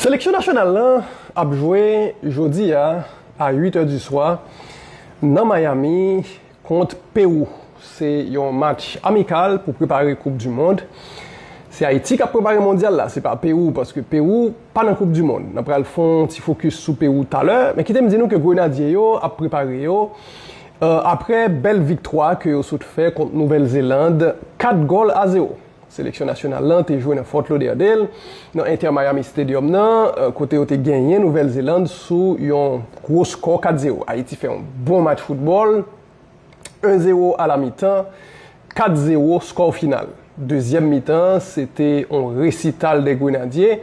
Seleksyon nasyonal la ap jwe jodi a a 8 è di swa nan Miami kont Pewou. Se yon match amikal pou prepare koup di mond. Se Ayiti k ap prepare mondyal la, se pa Pewou paske Pewou pa nan koup di mond. N ap pral fè yon ti fokis sou Pewou talè. Men kite m di nou ke Grenadye yo ap prepare yo aprè bèl viktwa ke yo sot fè kont Nouvèl Zeland 4 gòl a 0. Seleksyon nasyonal lan te jwe nan Fort Lauderdale, nan Inter Miami Stadium nan, kote yo te genyen Nouvèl Zeland sou yon gwo skò 4 zero. Ayiti fè yon bon match foutbòl, 1 zero a la mitan, 4 zero skò final. Dezyèm mitan an, se te yon resital dè Grenadye.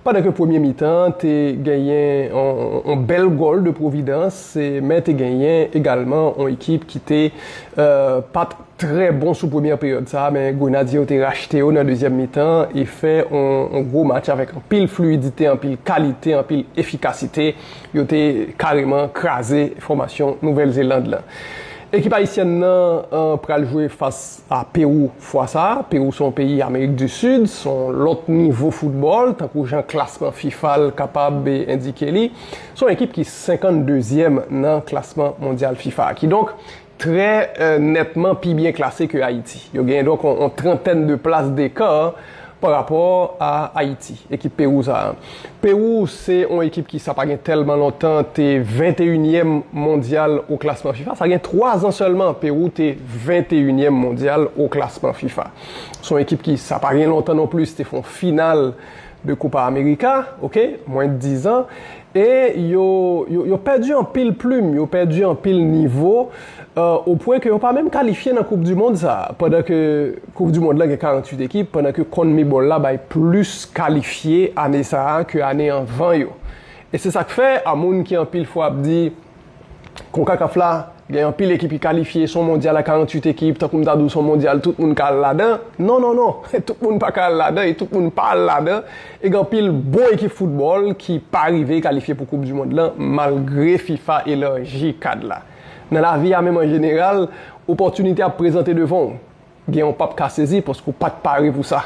Pandan ke premye mitan an te genyen yon bèl gòl de Providence, men te genyen egalman yon ekip ki te pat trè bon sou premyè peryòd sa a, men Grenadye yo te rachte yo nan dezyèm mitan e fè yon gwo match avèk anpil fluidite, anpil kalite, anpil efikasite. Yo te kareman kraze fòmasyon Nouvèl Zeland lan. Ekip Ayisyèn nan pral jwe fas. A Pewou fwa sa a, Pewou se yon peyi Amerik di Sid, se yon lòt nivo foutbòl, tankou jan klasman fifa l kapab endike li. Se yon ekip ki 52 zièm nan klasman mondyal fifa a. Kidonk, trè nètman pi byen klase ke Ayiti. Yo genyen donk yon trantèn de plas deka. Pa rapò a Ayiti, ekip Pewou sa a. Pewou se yon ekip ki sa pa gen tèlman lontan te venteyinyèm mondyal o klasman fifa. Sa gen twa zan sèlman Pewou te venteyinyèm mondyal o klasman fifa. Se yon ekip ki sa pa gen lontan non plis te fè yon final de Kopa Amerika, oke, mwen dizan. E yo pèdi anpil plim, yo pèdi anpil nivo. o pwen ke yo pa menm kalifye nan koup du mond sa a, pandan ke koup du mond la gen 48 ekip, pandan ke Conmebol la bay plis kalifye ane sa a ke ane anvan yo. E se sa k fè a moun ki anpil fwa ap di Concacaf la gen anpil ekip ki kalifye, son mondyal a 48 ekip, tankou m ta di w son mondyal tout moun ka al ladan, non non non, tout moun pa ka al ladan e tout moun pa al ladan e gen anpil bon ekip foutbòl ki pa rive kalifye pou koup du mond lan malgre fifa elarji kad la. Nan lavi a menm an jeneral, opòtinite ap prezante devan w. Genyen w pap ka sezi paske w pa t pare pou sa.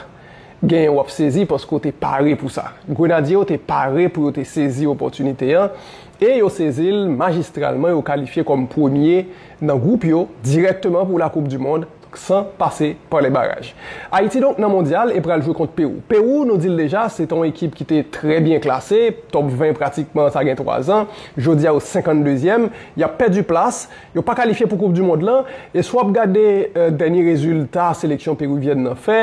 Genyen w ap sezi paske w te pare pou sa. Grenadye yo te pare pou yo te sezi opòtinite an e yo sezi l majistralman, yo kalifye kòm premye nan gwoup yo dirèkteman pou Lakoup Dimond. san pase pa lè baraj. Ayiti donk nan mondyal e pral jwe kont Pewou. Pewou, nou di l deja, se te yon ekip ki te trè byen klase, top 20 pratikman sa gen 3 zan, jodi a yo 52 zyèm, y ap pèdi plas, yo pa kalifye pou koup di mond lan, e si w ap gade dènye rezilta seleksyon peruvyèn nan fè,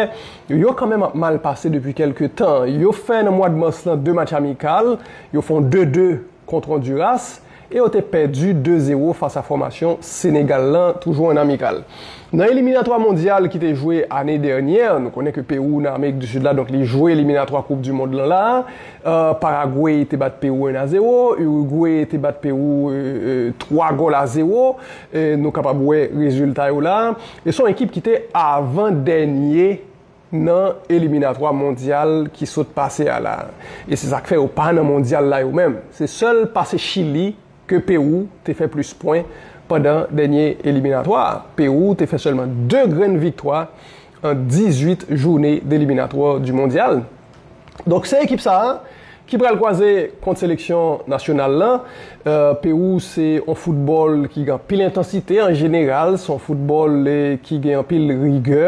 yo kanmenm ap mal pase depi kèlke tan. Yo fè nan mwad mas lan 2 match amikal, yo fon 2, 2. kont Honduras e yo te pèdi 2 zero fas a fòmasyon Senegal lan toujou an amikal. Nan eliminatwa mondyal ki te jwe ane dènyè, nou konnen ke Pewou nan Amerik di Sid la donk li jwe eliminatwa koup di mond lan la a, Paragwe te bat Pewou 1 a 0, Urugwe te bat Pewou 3 gòl a 0, nou kapab wè rezilta yo la a, e son ekip ki te avan dènye nan eliminatwa mondyal ki sot pase a la e se sak fè yo pa nan mondyal la yo menm se sèl pase chili ke pewou te fè plis pwen pandan dènye eliminatwa a pewou te fè sèlman 2 grenn viktwa an 18 joune deliminatwa du mondyal. Donk se ekip sa ki pral kwaze kont seleksyon nasyonal la. Pewou se yon foutbòl ki gen anpil entansite an jeneral, se yon foutbòl ki gen anpil rigè.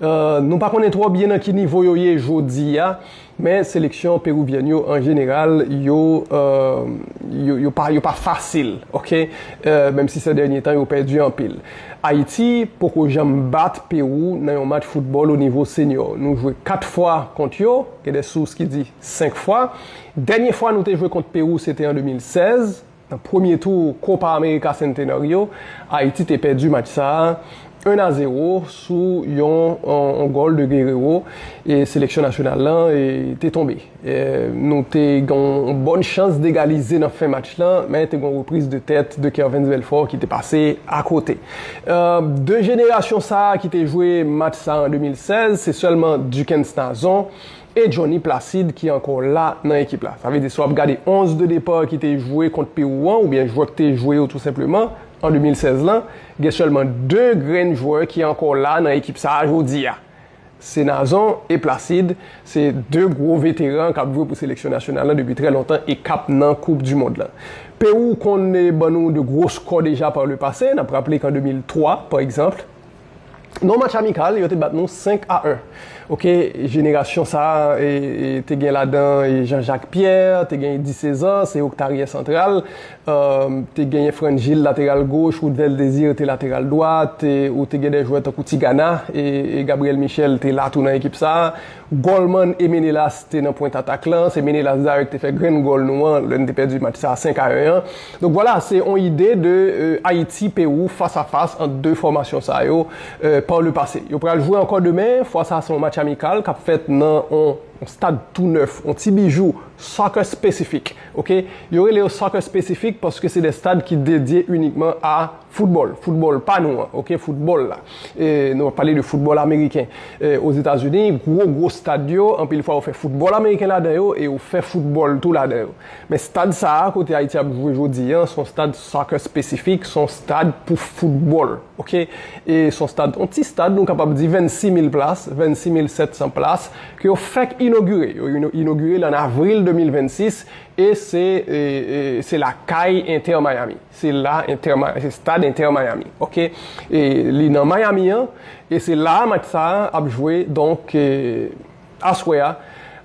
Nou pa konnen twò byen nan ki nivo yo ye jodi a, men seleksyon perouvyèn yo an jeneral yo pa fasil, menm si sè dènye tan yo pèdi anpil. Ayiti poko janm bat Pewou nan yon match foutbòl onivo senyò. Nou jwe 4 fwa kont yo, gen de sous ki di 5 fwa. Dènye fwa nou te jwe kont Pewou se te an 2016, nan premye tou Copa America Centenario. Ayiti te pèdi match sa a 1 a 0 sou yon gòl de Guerrero e seleksyon nasyonal lan te tonbe. Nou te gen yon bòn chans d'egalize nan fen match lan, men te gen yon repriz de tèt de Kervens Belfort ki te pase akote. De jenerasyon sa a ki te jwe match sa an 2016, se sèlman Duckens Nazon e Johnny Placide ki ankò la nan ekip la. Sa vle di si w ap gade 11 de depa ki te jwe kont Pewou an, oubyen jwè ki te jwe yo tou senpleman, an 2016 lan, gen sèlman 2 grenn jwè ki ankò la nan ekip sa a jodi a. Senazon e Placide se 2 gwo veteran kap jwe pou seleksyon nasyonal lan depi trè lontan e kap nan koup du mond lan. Pewou konn ban nou de gwo skò deja par le pase, nap raple k an 2003 par egzanpl nan match amikal yo te bat nou 5 a 1 ok jenerasyon sa te gen ladan Jean Jacques Pierre, te gen Eddy Cesar, se yo k ta aryè santral te genyen Frangil lateral goch, Ruthvel Desir te lateral dwat, ou te gen de jwè tankou Tigana, e Gabriel Michel te la tou nan ekip sa. Gòlman e Menelas te nan pwent atak lan, se Menelas dayè ki te fè grenn gòl nou an lè n te pèdi match sa 5 a 1 an. Donk vwala, se yon ide de Ayiti, Pewou, fas a fas ant 2 fòmasyon sa yo pa le pase. Yo pral jwe ankò demen, fwa sa se yon match amikal k ap fèt nan yon stad tou nèf, yon ti bijou, soccer specific. Ok, yo rele yo soccer specific paske se de stad ki dedye inikman a football, football pa nou an, ok, football la. E nou ap pale de football ameriken. E Ozetazini, gwo gwo stad yo, anpil fwa yo fè football ameriken ladan yo e yo fè football tou ladan yo. Men stad sa a kote Ayiti ap jwe jodi an, son stad soccer specific, son stad pou football, ok. E son stad, on ti stad nou kapab di 26 mil plas, 26 mil 700 plas, ke yo fèk inogire, yo inogire l an avril 2026 e se se lakay Inter Miami, se la Inter se stad Inter Miami ok e li nan Miami an e se la a match sa a ap jwe donk aswè a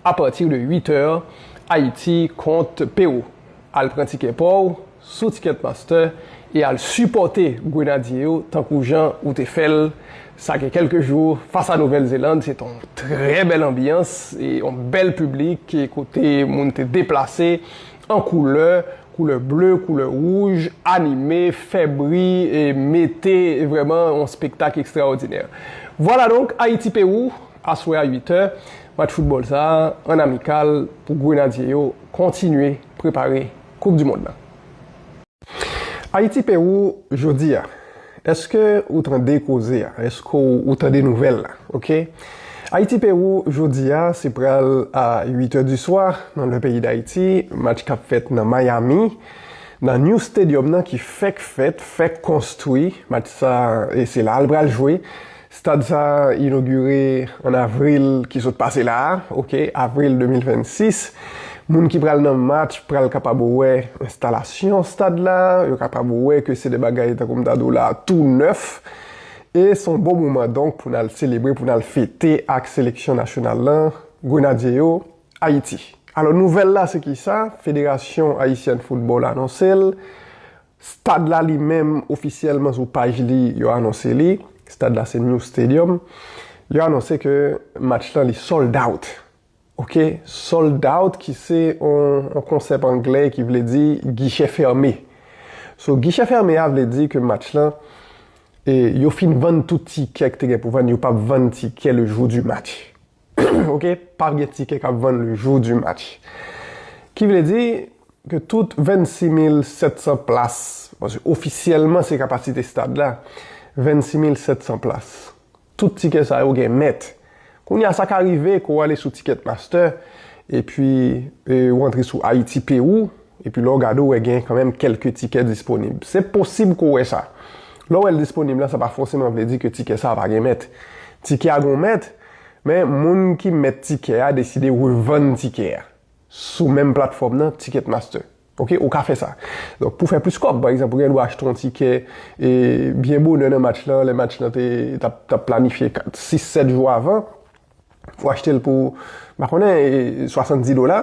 apati de 8 è Ayiti kont Pewou al pran tikè pa w sou ticket pasteur e al sipòte grenadye yo tankou jan ou te fèl sa gen kèlke jou fas a Nouvèl Zeland se te yon trè bèl anbyans e yon bèl piblik kote moun te deplase an koulè koulè ble koulè wouj anime fè bri e mete vrèman yon spektak ekstraòdinè vwala donk Ayiti Pewou aswè a 8 è match foutbòl sa an amikal pou grenadye yo kontinye prepare koup di mond nan. Ayiti Pewou jodi a eske ou tande koze a eske ou tande nouvèl la ok Ayiti Pewou jodi a se pral a 8 è di swa nan lè peyi dayiti match kap fèt nan Miami nan new stadium nan ki fèk fèt fèk konstwi match sa e se la al pral jwe Stad sa a inogire an avril ki sot pase la a, ok, avril 2026. Moun ki pral nan match pral kapab wè enstalasyon stad la, yo kapab wè ke se de bagay tankou m ta di w la a tou nèf. E s on bon moman donk pou n al selebre, pou n al fete ak seleksyon nasyonal lan, Grenadye yo, Ayiti. Alò nouvèl la se kisa? Federasyon Ayisyèn Foutbòl anonse l. Stad la li menm ofisyèlman sou paj li yo anonse li, stad la se New Stadium, yo anonse ke match lan li sold out. Ok, sold out ki se yon konsèp anglè ki vle di gichè fème. So gichè fème a vle di ke match lan yo fin vann tout tikè ki te gen pou vann, yo pap vann tikè le jou di match. ok pap gen tikè kap vann le jour du match ki vle di ke tout 26700 plas paske ofisyèlman se kapasite stad la 26700 plas tout tikè sa yo gen mèt kounye a sa ka rive ke w ale sou ticket master epi ou antre sou Haïti Pérou epi lè w gade ou wè gen kanmenm kelke tikè disponib se posib ke w wè sa lè w wè l disponib la sa pa fòseman vle di ke tikè sa pa gen mèt tikè a gon mèt Men, moun ki mèt tikè a deside revann tikè a sou menm platfòm nan, Ticketmaster. Ok, ou ka fè sa. Donk, pou fè plis kòb, pa egzanp, ou gen dwa achte yon tikè e byen bonè nan match lan, lè match lan te t ap planifye 6, 7 jou avan, ou achte l pou, m pa konnen, 70 dola.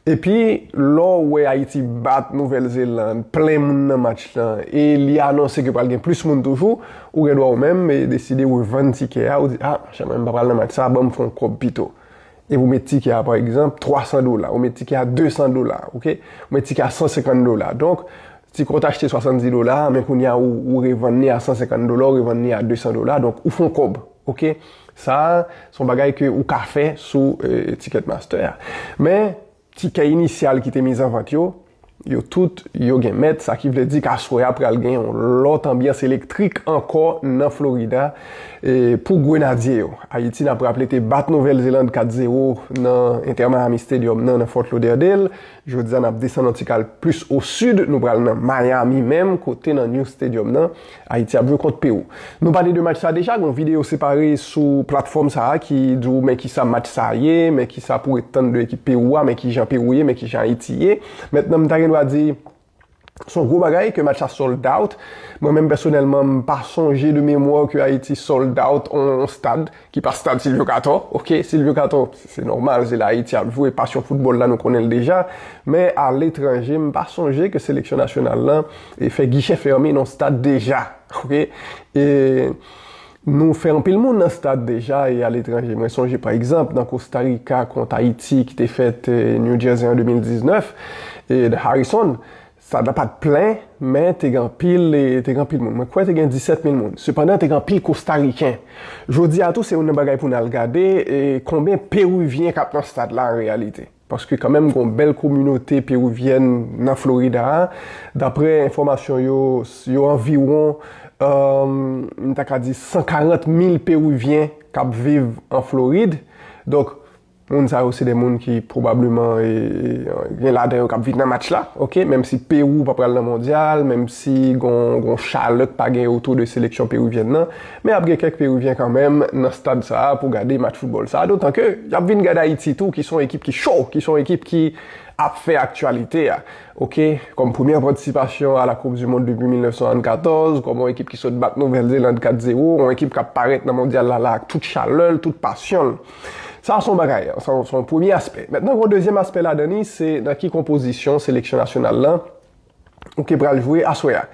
Epi lè w wè Ayiti bat Nouvèl Zeland, plen moun nan match lan, e li anonse ke pral gen plis moun toujou, ou gen dwa ou menm deside revann tikè a, ou di, ah, chè mwen m pa pral nan match sa a, ban m fè yon kòb pito. Epi ou met tikè a pa egzanp 300 dola, ou met tikè a 200 dola, ok, ou met tikè a 150 dola. Donk, tikè ou te achte 70 dola, men kounye a ou revann li a 150 dola, ou revann li a 200 dola, donk ou fè yon kòb, ok. Sa a se yon bagay ke ou ka fè sou Ticketmaster a. Men, tikè inisyal ki te mizanvant yo, yo tout yo gen mèt, sa ki vle di ke aswè a pral gen yon lòt anbyans elektrik ankò nan Florida pou Grenadye yo. Ayiti, n ap raple, te bat Nouvèl Zeland 4 zero nan Inter Miami Stadium nan, nan Fort Lauderdale. Jodi a, n ap desann yon ti kal plis o sid, nou pral nan Miami menm, kote nan New Stadium nan. Ayiti ap jwe kont Pewou. Nou pale de match sa deja, gen yon videyo separe sou platfòm sa a ki di w men kisa match sa a ye, men kisa pou w ret tann de ekip Pewou a, men kijan Pewou ye, men kijan Ayiti ye. Mentnan m ta gen dwa di se yon gwo bagay ke match sa sold out. Mwen menm pèsonèlman m pa sonje de memwa ke Ayiti sold out yon stad. Ki pa stad Silvyo Katò, ok, Silvyo Katò, se nòmal, se la Ayiti ap jwe, pasyon foutbòl la nou konnen l deja, men aletranje m pa sonje ke seleksyon nasyonal lan fè gichè fèmen nan stad deja, ok. E nou fè anpil moun nan stad deja e aletranje. Mwen sonje pa egzanp nan Kosta Rika kont Ayiti ki te fèt New Jersey an 2019, Harrison, Stad la pa t plen, men te gen anpil te gen anpil moun. Mwen kwè te gen 17 mil moun. Sepandan, te gen anpil Kostariken. Jodi a tou, se youn nan bagay pou n al gade konben Peruvyen k ap nan stad la an reyalite. Paske kanmenm gen yon bèl kominote Peruvyèn nan Florida a. Dapre enfòmasyon yo, yo anviwon, m ta ka di 140 mil Peruvyen k ap viv an Florid. Donk. Moun sa yo se de moun ki pwobableman gen ladan yo k ap viv nan match la, ok, menm si Pewou pa pral nan mondyal, menm si gon chalè k pa gen otou de seleksyon peruvyèn nan, men ap gen kèk Peruvyèn kanmenm nan stad sa a pou gade match foutbòl sa a, dotan ke y ap vin gade Ayiti tou ki se yon ekip ki cho, ki se yon ekip ki ap fè aktyalite a, ok, kòm premyè patisipasyon a la koup di mond depi 1974, kòm yon ekip ki sot bat Nouvèl Zeland 4 zewo, yon ekip k ap parèt nan mondyal la la ak tout chalè l, tout pasyon l. Sa a se yon bagay, sa se yon premye aspè. Mentnan gen yon dezyèm aspè ladan li, se nan ki konpozisyon seleksyon nasyonal la ou ke pral jwe aswè a.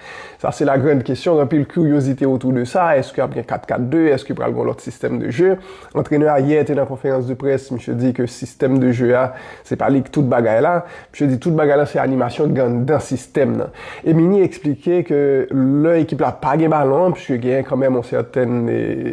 Sa se la grand kesyon, gen anpil kiryozite otou de sa, eske ap gen 4-4-2, eske pral gen yon lòt sistèm de je. Antrenè a yè te nan konferans de près, misye di ke sistèm de je a, se pa li ki tout bagay la. Misye di tout bagay lan se animasyon ki anndan sistèm nan. Emini eksplike ke lè ekip la pa gen balon an, puiske genyen kanmenm yon sèten,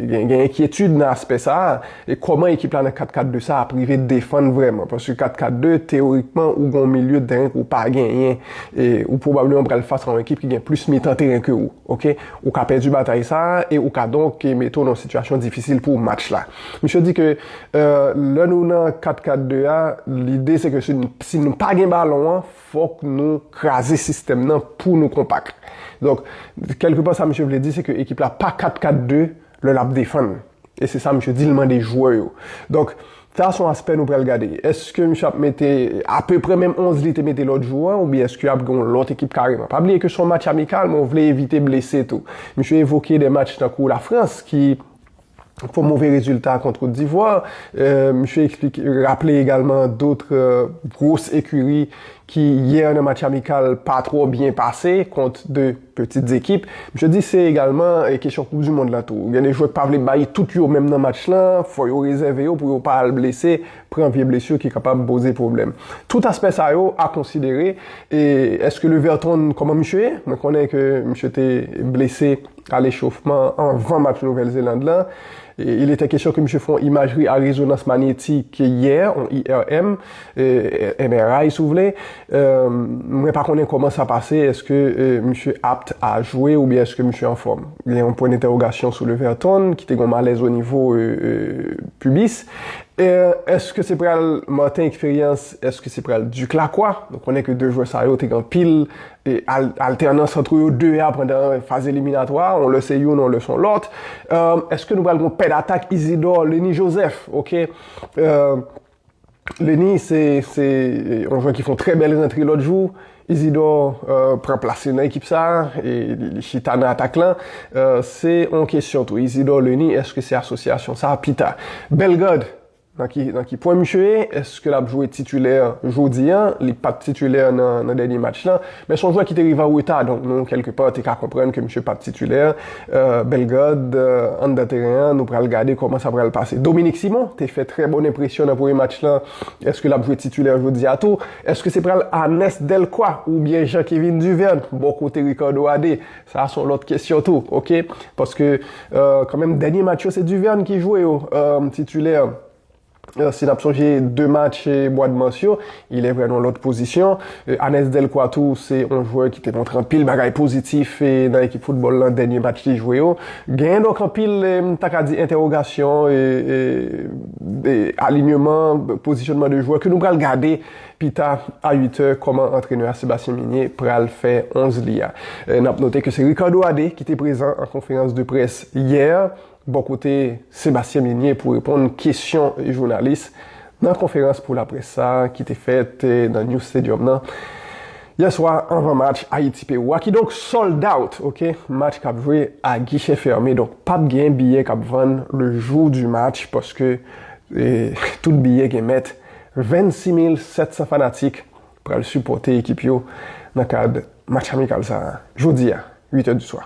gen enkyetid nan aspè sa a, e kòman ekip la nan 4-4-2 sa a ap rive defann vrèman. Paske 4-4-2, teyorikman, ou gen yon milye tèren ke ou pa genyen, e ou pwobableman pral fas a yon ekip ki gen plis mitan tèren ke ou. Ok. Ou ka pèdi batay sa a, e ou ka donk mete w nan yon sitiyasyon difisil pou match la. Misye di ke lè nou nan 4-4-2 a, lide se ke si nou pa gen balon an, fòk nou kraze sistèm nan pou nou konpak. Donk, kèlke pa sa misye vle di se ke ekip la pa 4-4-2 lè l ap defann. E se sa misye di l mande jwè yo. Donk, sa son aspè nou pral gade. Eske misye ap mete apeprè menm 11 li te mete lòt jou an oubyen eske ap gen yon lòt ekip kareman. Pa bliye ke son match amikal men ou vle evite blese tou. Misye evoke de match tankou Lafrans ki pou move rezilta kont Kot Divwa. Misye eksplike, raple egalman dotre gwos ekiri ki yè nan match amikal pa twò byen pase kont 2 petits ekip. Misye di se egalman kesyon koup du mond la tou. Gen 2 jwè k pa vle bay tout yo menm nan match lan, fò yo rezève yo pou yo pa al blese, pran vye blesur ki kapab poze pwoblèm. Tout aspè sa yo a konsidere. E eske Leverton, kòman misye ye? Mwen konnen ke misye te blese. Kal echofman anvan match Nouvèl Zeland lan, il etè kesyon ke misye fè yon imajri a rezonans manyetik yè, yon IRM, MRI si w vle. Mwen pa konnen kòman sa pase, èske misye apt a jwe oubyen èske misye anfòm. Gen yon pwen dentèwogasyon sou Leverton ki te gen yon malèz onivo pibis. Èske se pral Martin Expérience, èske se pral Duc Lacroix? Nou konnen ke 2 jwè sa yo te gen anpil E altènans antre yo 2 a pandan faz eliminatwa, yon lè se youn, yon lè son lòt. Eske nou pral gon pè datak Isidor, Lenny Joseph, ok. Lenny se yon jwè ki fon trè bèl rantre lòt jou. Isidor pran plas li nan ekip sa, li chita nan atak lan. Se yon kesyon tou, Isidor, Lenny, eske se asosyasyon sa pita. Bellegarde, Nan ki nan ki pwen misye ye? Eske lap jwe titulè jodi an? Li pat titulè nan nan dènye match lan. Men son jwè ki te rive an reta donk nou kèlke pa te ka konprann ke misye pap titulè. Bellegarde anndan teren an nou pral gade kòman sa pral pase. Dominique Simon te fè trè bon enpresyon nan premye match lan. Eske lap jwe titulè jodi a tou? Eske se pral Arnest Delcroix oubyen Jean Kevin Duverne bò kote Ricardo Adé? Sa son lòt kesyon tou ok paske kan menm dènye match yo se Duverne ki jwe yo titulè si nap sonje 2 match mwad mas yo ilè vre nan lòt pozisyon Anes Delcroix tou se yon jwè ki te montre anpil bagay pozitif nan ekip foutbòl lan dènye match li jwe yo genyen donk anpil m ta ka di entèwogasyon alinyeman pozisyonman de jwè ke nou pral gade Pita a 8 è, kòman antrenè a Sébastien Migné pral fè 11 li a? N ap note ke se Ricardo Adé ki te prezan an konferans de près yè bò kote Sébastien Migné pou reponn kesyon jounalis nan konferans pou laprès sa ki te fèt nan New Stadium nan yè swa anvan match Ayiti-Pewou a kidonk sold out ok match k ap jwe a guichet fermé donk p ap gen biyè k ap vann le jour du match paske tout biyè gen mèt. 26700 fanatik pral sipòte ekip yo nan kad match amikal sa a jodi a 8 è di swa.